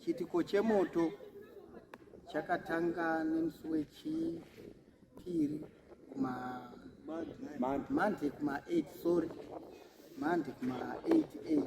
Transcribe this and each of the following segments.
Chiitiko chemoto chakatanga nemusi wechii Piri kuma Monday kuma 8 sorry. Monday kuma 8 8.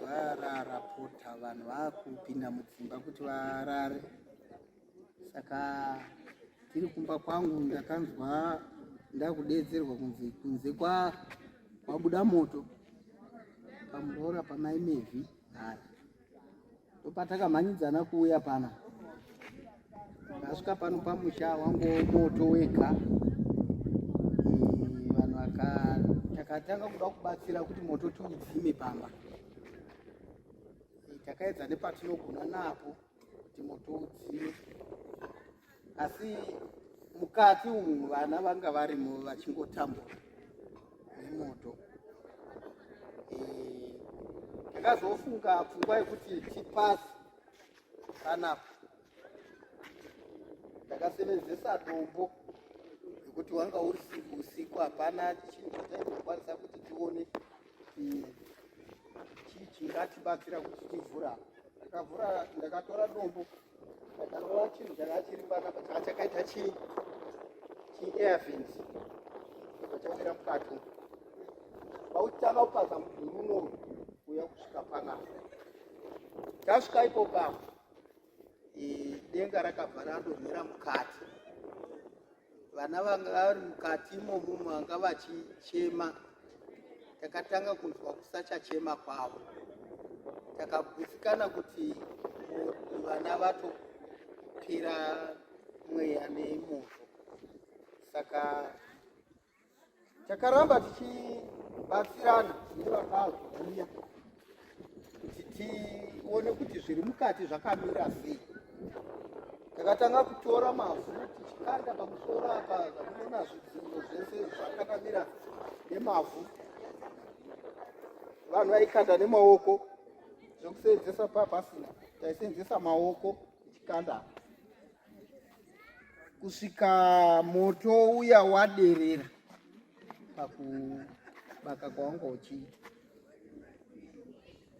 Varara pota vanhu vakupinda mudzimba kuti varare. Saka tiri kumba kwangu ndakanzwa ndakudedzerwa kunzi kunze kwa kwabuda moto pamuroora pamaimevhi hari ndopatakamhanyidzana kuuya pana ndasvika pano pamusha wangu moto wega vanhu vaka takatanga kuda kubatsira kuti moto tiudzime pamba takaedza nepatinogona napo kuti moto udzime asi mukati umu vana vanga varimo vachingotambura nemoto ndakazofunga eh, pfungwa yekuti tipasi panapa ndakasevenzesa dombo nekuti wanga uri usiku hapana chinhu chataizokwanisa kuti tione chii chingatibatsira kuti tivhura ndakavhura ndakatora dombo ndakarova chinhu changa chiri panapa changa chakaita chi chiairfins chachawira mukati pautanga upaza mudhuri uno uya kusvika panapa tasvika ipo papa denga rakabva radonhera mukati vana vanga vari mukati imomo vanga vachichema takatanga kunzwa kusachachema kwavo takagutsikana kuti vana vatopera mweya nemoto saka takaramba tichibatsirana nevakazouya kuti tione kuti zviri mukati zvakamira sei takatanga kutora mavhu tichikanda pamusoro apa zvamunoona zvidziro zvese zvakanamira nemavhu vanhu vaikanda nemaoko zvekuseenzesa papasina taiseenzesa maoko tichikanda apa kusvika moto uya waderera pakubaka kwawanga uchiita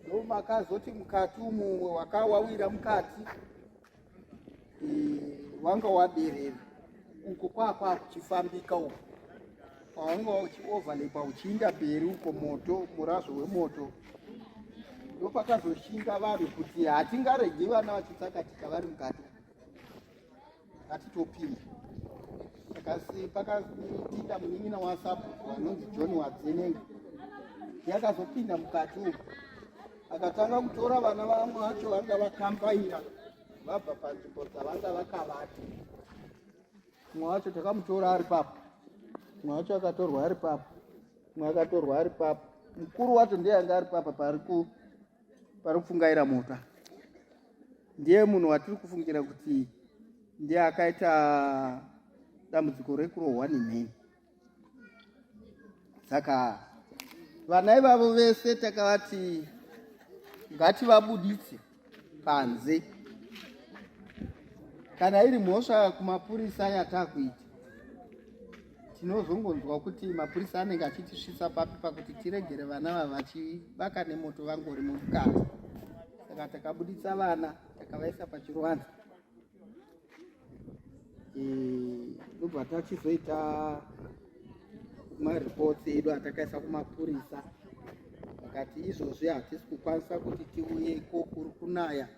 ndomakazoti mukati umu wakawawira mukati wanga waderera uko kwakwakuchifambika uko paunga uchioverlapa uchiinda mberi uko moto murazvo wemoto ndopakazoshinga vanhu kuti hatingaregi vana vachitsakatika vari mukati hatitopinda kasi pakapinda munin'ina wasabhuku anonzi john wadzenenga yakazopinda mukati umu akatanga kutora vana vamwe vacho vanga vakambaira vabva panzvimbo dzavanga vakavati mwe wacho takamutora ari papo mwe wacho akatorwa ari papo mwe akatorwa ari papo mukuru wacho ndiye anga ari papa pari kupfungaira mota ndiye munhu watiri kufungira kuti ndiye akaita dambudziko rekurohwa nemheni saka vana ivavo vese takavati ngativabuditse panze kana iri mhosva kumapurisa yatakuita tinozongonzwa kuti mapurisa anenge achitisvitsa papi pakuti tiregere vana vava vachivaka nemoto vangori mumukati saka takabuditsa vana takavaisa pachiruvanza ndobva tachizoita mareports edu atakaisa kumapurisa vakati izvozvi hatisi kukwanisa kuti tiuye iko kuri kunaya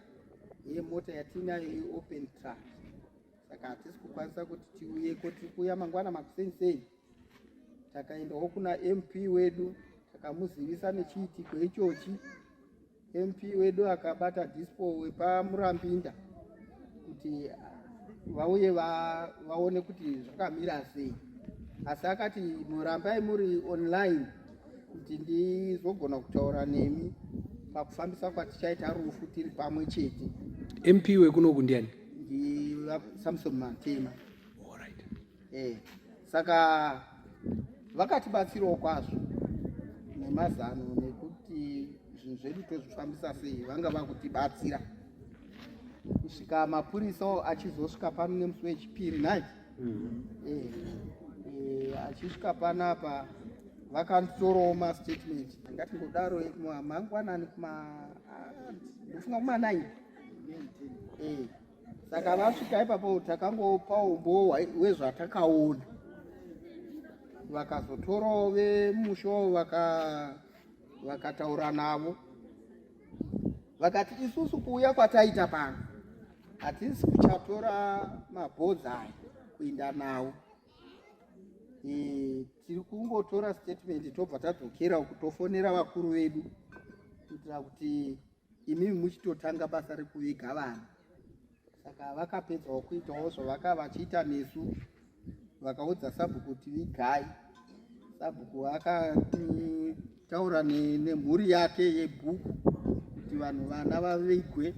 iye mota yatiinayo iopen truck saka hatisi kukwanisa kuti tiuye iko tiri kuuya mangwana makuseni sei takaendawo kuna mp wedu takamuzivisa nechiitiko ichochi MP wedu akabata dispo wepamurambinda kuti vauye vaone kuti zvakamira sei asi akati murambai muri online kuti ndizogona kutaura nemi pakufambisa kwatichaita rufu tiri pamwe chete mp wekunoku ndiani ndisamson matema eh, saka vakatibatsirawo kwazvo nemazano nekuti zvinhu zvedu tozvifambisa sei vanga vakutibatsira kusvika mapurisa achizosvika pano nemusi wechipiri nai mm. eh, eh, achisvika pano apa vakatorawo mastatement angati ngodaro mangwanani kuma ah, ndofunga kuma 9 eh. saka vasvika ipapo takangopawo umbowo wezvatakaona vakazotorawo vemushowo vakataura navo vakati isusu kuuya kwataita pano hatisi kuchatora mabhodzi aya kuinda nawo e, tiri kungotora statement tobva tadzokera uku tofonera vakuru vedu kuitira kuti imimi muchitotanga basa rekuviga vanhu saka vakapedzawo kuitawo zvavaka vachiita nesu vakaudza sabhuku kuti vigai sabhuku akataura nemhuri yake yebhuku kuti vanhu vana vavigwe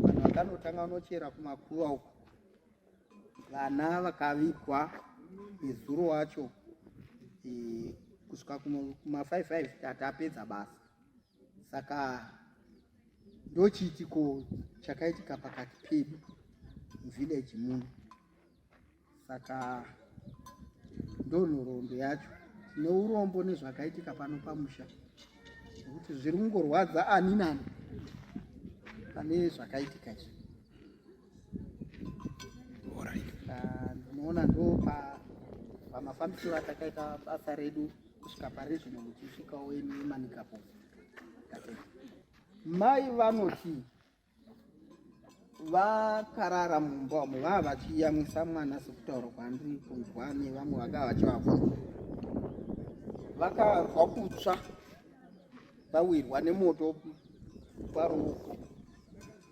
vanhu vakanotanga vanochera kumakuva uku vana vakavigwa nezuro wacho e, kusvika kuma 55 tatapedza basa saka ndochiitiko chakaitika pakati pedu muvillage muno saka ndonhoroondo yacho tine urombo nezvakaitika pano pamusha nekuti zviri kungorwadza ani nani pane zvakaitika izvi ndinoona ah, ndo pamafambisiro atakaita basa redu kusvika pari zvino muchisvikawo inemanikapo mai vanoti vakarara mumba umo vava vachiyamwisa mwana sekutaura kwandiri kunzwa nevamwe vakava vachivabvunza vakanzwa kutsva vawirwa nemoto paruoko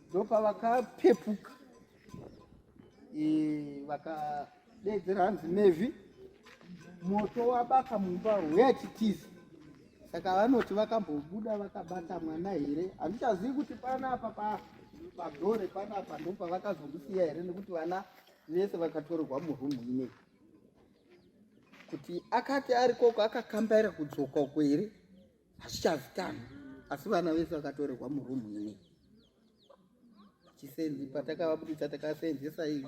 ndopavakapepuka vakadedzera hanzi mevhi moto wabaka mumba huya titizi saka vanoti vakambobuda vakabata mwana here handichazivi kuti panapa padhore panapa ndopavakazomusiya here nekuti vana vese vakatorerwa murumu inei kuti akati ari koko akakambaira kudzoka uko here hazvichazikanwa asi vana vese vakatorerwa murumu ine chisenzi patakavabudisa takaseenzesa iyi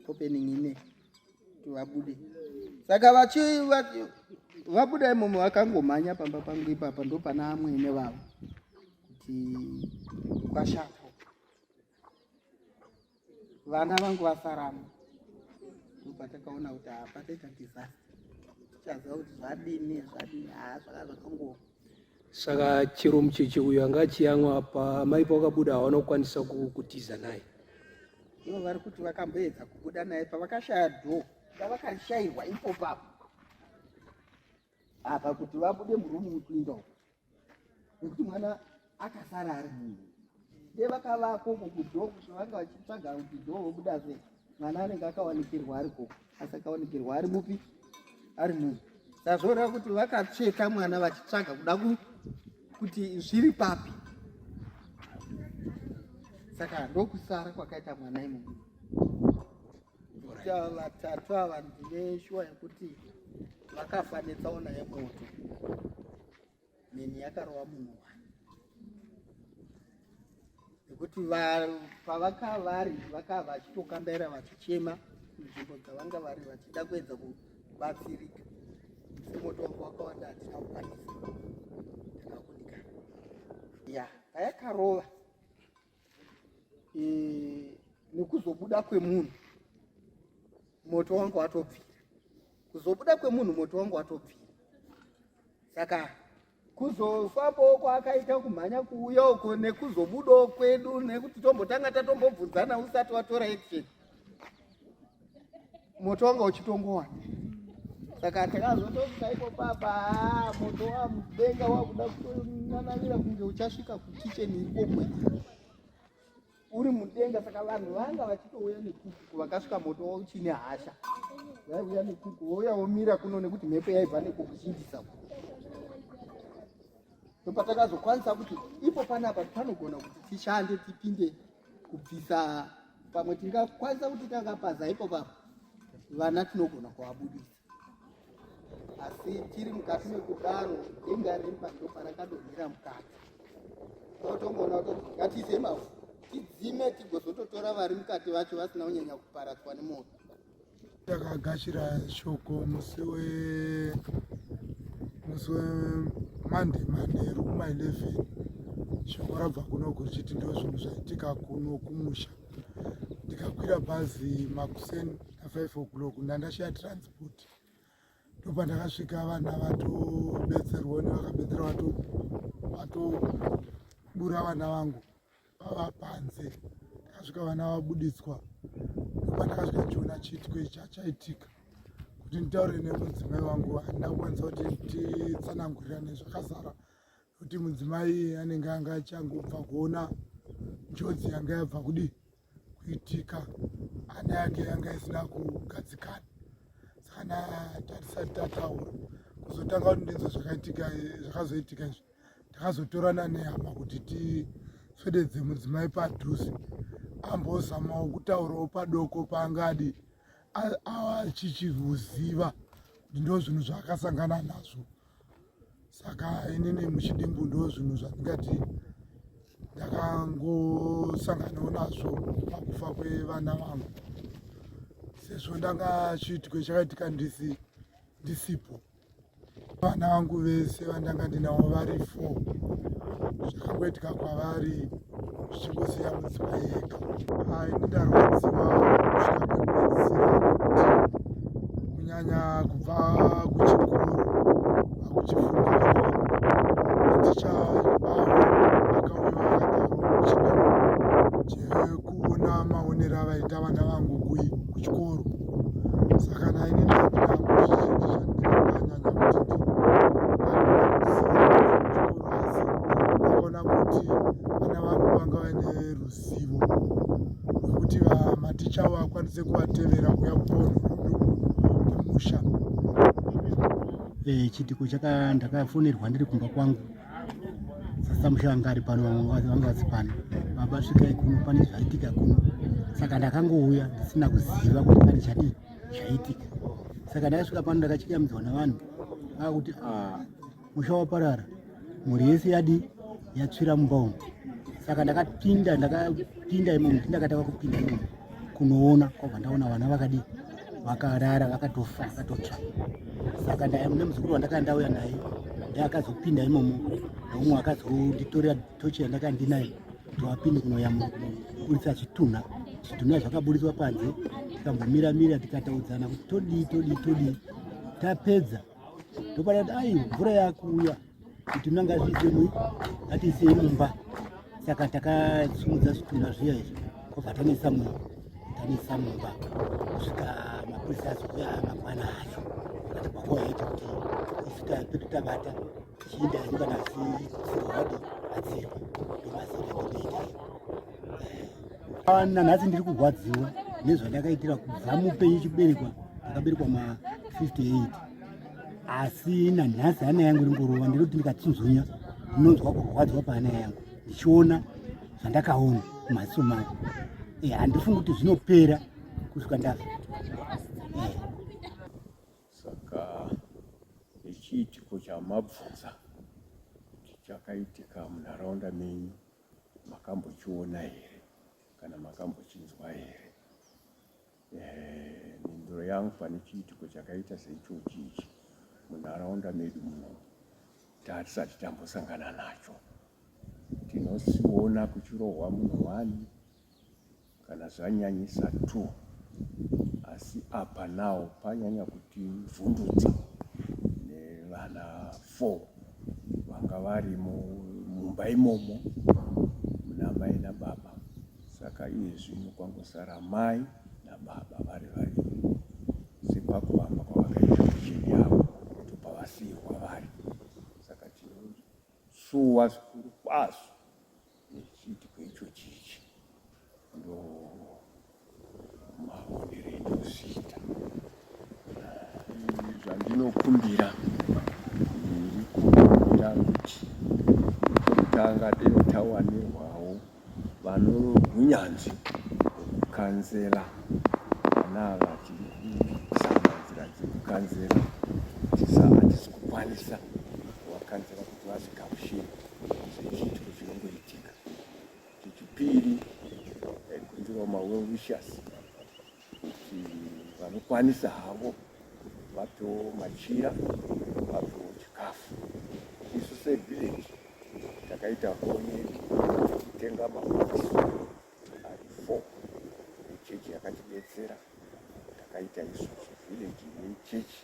opening ine kuti vabude saka vachi vabuda imomo vakangomhanya pamba pangu ipapa ndopana amwene vavo kuti kwashapo vana vangu vasaramo ndopatakaona kuti hapataita disaster tichaziva kuti zvadini zvadini haa zvaka zvakangoa saka chero mucheche uyo anga achiyamwa apa amai pavakabuda hawana kukwanisa kutiza naye ivo vari kuti vakamboedza kubuda naye pavakashaya dho ndavakashairwa ipo papo apa kuti vabude murumu wekuinda uko nekuti mwana akasara ari munhu de vakavako ko kudo kuti vanga vachitsvaga kuti do vobuda zve mwana anenge akawanikirwa ari ko asi akawanikirwa ari mupi ari munhu sazvoreva kuti vakatsveta mwana vachitsvaga kuda kuti zviri papi saka ndokusara kwakaita mwana imomo Kuita vatatu ava ndine shuwa yekuti vakafa netsaona yemoto. Mheni yakarova munhu wani. Nekuti pavakavari vakava vachitokambaira vachichema nzvimbo dzavanga vari vachida kuedza kubatsirika. Moto wangu wakawanda hatina kukwanisa. Ndakakundikana. Ya, payakarova. Yeah. e, nekuzobuda kwemunhu moto wangu watobvira kuzobuda kwemunhu moto wangu watobvira saka kuzofambawo kwaakaita kumhanya kuuya uko nekuzobudawo kwedu nekuti tombotanga tatombobvunzana usati watora action moto wanga uchitongowana saka takazototi paipo papa ah, moto wamudenga wakuda kutonanavira kunge uchasvika kukicheni ikokwe uri mudenga saka vanhu vanga vachitouya nekuku vakasvika moto wauchine hasha vaiuya nekuku wouya womira kuno nekuti mhepo yaibva nekukuzhindisa ndopatakazokwanisakuti ipo panapa panogona kuti tishande tipinde kubvisa pamwe tingakwanisa kuti takapaza ipo papa vana tinogona kuvabudisa asi tiri mukati mekudaro denga remba ndoparakadonhera mukati otongoona kuti ngatiise mavhu tidzime tigozototora vari mukati vacho vasina kunyanya kuparadzwa nemoto takagashira shoko musi we musi wemande manheru kuma 11 shoko rabva kuno kuchiti ndo zvinhu zvaitika kuno kumusha ndikakwira bhazi makuseni na 5 o'clock ndandashaya transport ndopa ndakasvika vana vatobetserwa nevakabetserwa vatobura vana vangu vava panze takasvika vana vabuditswa patakasvika chiona chiitiko icha chaitika kuti nditaure nemudzimai wangu handina kukwanisa kuti titsanangurirane zvakazara kuti mudzimai anenge anga achangobva kuona njodzi yanga yabva kudi kuitika ana yake yanga isina kugadzikana sakana tatisati tataura kuzotanga kuti ndinzwa zvakaitika zvakazoitika izvi takazotorana nehama kuti tisvededze mudzimai padhuze ambozamawo kutaurawo padoko paangadi achichiuziva kuti ndo zvinhu zvaakasangana nazvo saka inini muchidimbu ndo zvinhu zvandingati ndakangosanganawo nazvo pakufa kwevana vangu sezvo ndanga chiitiko chakaitika ndisipo vana vangu vese vandanga ndinavo vari four zvakangoitika kwavari zvichingosiya mudzimba yega ayi ndarwadziwa kusvika pekupedzisira kunyanya kubva kuchikoro akuchifunda maticha ebavo akauya chekuona maonero avaita vana vangu kuchikoro saka naine ndaakuona kuti vana vangu vanga vaine ruzivo rwekuti maticha avo akwanise kuvatevera kuya kupono kumusha eh, chitiko chaka ndakafonerwa ndiri kumba kwangu sasa mushe vanga ari pano vanga vasi pano baba svikai kuno pane zvaitika kuno saka ndakangouya ndisina kuziva kuti pane chadii zvaitika saka ndakasvika pano ndakachikamizwa navanhu vakuti ah, musha waparara mhuri yese yadii yatsvira mumba umu saka ndakapinda ndakapinda imomo ndakataka kupinda imomo kunoona kwabva ndaona vana vakadii vakarara vakatofa vakatotsva saka ndaimune muzukuru wandakanga ndauya naye nda akazopinda imomo noumwe akazonditorera tochi yandakanga ndinaye toapinde kunoyamuburitsa zvitunha zvitunha zvakaburitswa panze tikambomira mira tikataudzana kuti todii todii todii tapedza ndopanati ai mvura yakuuya Zvitunha ngazviise mu ngatiise mumba saka takasimudza zvitunha zviya izvi kobva tanoisa mu tanoisa mumba kusvika mapurisa azouya mangwana acho kati kwako yaita kuti isu tapedu tabata chiinda hedu kana sirwadi adzirwa ndomazira ndotoita iyo nanhasi ndiri kurwadziwa nezvandakaitira kubva mupenyu chiberekwa ndakaberekwa ma 58 asi nanhasi hana yangu ringorova ndiri kuti ndikatsinzunya ndinonzwa kurwadzwa pahana yangu ndichiona zvandakaona mumaziso mangu eh, handifungi kuti zvinopera kusvika ndafa eh. saka ichiitiko chamabvunza kuti chakaitika munharaunda menyu makambochiona here kana makambochinzwa here mhinduro yangu pane chiitiko chakaita seichochi ichi munharaunda medu muno tatisati tambosangana nacho tinosiona kuchirohwa munhu wani kana zvanyanyisa t asi apa nawo panyanya kuti vhundutsa nevana f vanga vari mumba imomo munamai nababa Saka iye zvino kwangosara mai nababa vari vaviri sekwakuvamba kwavakaita kucheni yavo topa vasiyirwa vari saka tinosuwa zvikuru kwazvo nechiitiko icho chichi ndo maonero endozviita zvandinokumbira ndiri kukumbira kuti kutanga denotawanirwa Vanohunyanzvi kukanzera vana ava tiri kuzama nzira dzekukanzera hatisi kukwanisa kuvakanzera kuti vazvigamushire zvechiitiko chinongoitika chechipiri eh, kunzirawo mawell wishes kuti vanokwanisa havo vapeo machira vapeo chikafu isu sevillage takaita honye kutenga maboksi ari four echechi yakatibetsera takaita isu sevillage nechechi